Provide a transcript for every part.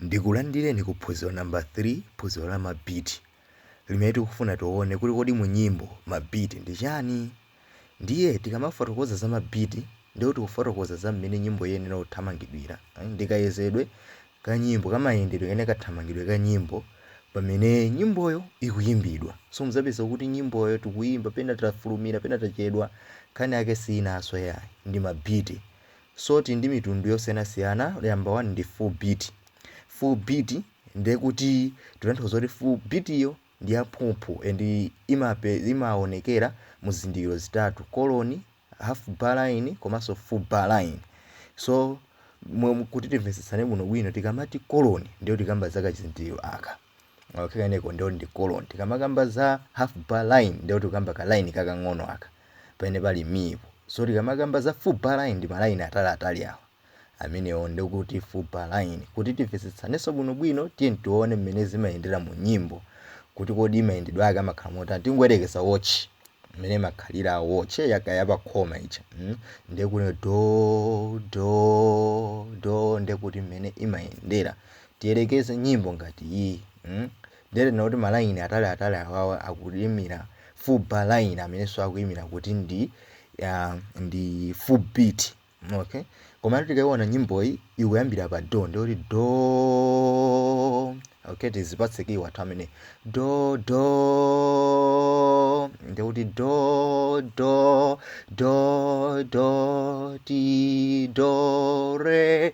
Ndikulandireni ku phunziro number 3, phunziro la ma beat, limene tikufuna tione kuti kodi mu nyimbo ma beat ndi chani? Ndiye tikamafotokoza za ma beat ndiye kuti tikufotokoza za mmene nyimbo iyenera kuthamangidwira, ndi kayezedwe ka nyimbo, kamayendedwe kapena kathamangidwe ka nyimbo pamene nyimboyo ikuyimbidwa. So mudzapeza kuti nyimboyo tikuyimba pena tafulumira pena tachedwa, nkhani yake siyinanso yayi, ndi ma beat. So ili ndi mitundu yosiyanasiyana number 1 ndi full beat. Full beat ndiye kuti tikutanthauza kuti full beat yo ndi yamphumphu and imape imaonekera mu zizindikiro zitatu, koloni, half bar line komanso full bar line. So kuti timvetsetsane bwinobwino tikamati koloni ndiye kuti tikamba za kachizindikiro aka. okay kaneko ndiyo ndi colon tikamakamba za half bar line ndiye kuti tikamba ka line kakang'ono aka pamene pali mipo so tikamakamba za full bar line ndi ma line atali atali awa amenewo ndikuti full bar line kuti timvetsetsanenso bwinobwino tiye tione mmene zimayendera mu nyimbo kuti kodi mayendedwe ake amakhala motani tingoyerekeza watch mmene imakhalira watch yaka yapakhoma ija mm? ndiye kuti do do do ndiye kuti mmene imayendera Tiyerekeze nyimbo ngati iyi mm ndiye tinene kuti ma line atali atali awawa akuimira full bar line amenenso akuimira kuti ndi ah, ndi full beat okay komatu tikaiona nyimboyi ikuyambira pa do ndiye kuti do okay tizipatse kiyi wathu amene do do ndiye kuti do do do do ti do re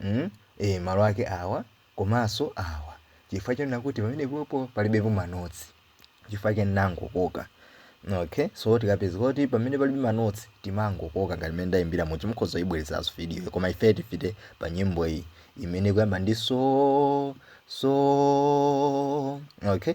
mm ee malo ake awa komanso awa chifukwa chonena kuti pamenepopo palibepo manotsi chifukwa chake ndinangokoka okay so tikapeza kuti pamene palibe manotsi timangokoka ngati mmene ndayimbira muja mukhoza kuyibwerezaso videoyo koma ife tipite pa nyimbo iyi imene ikuyamba ndi so so okay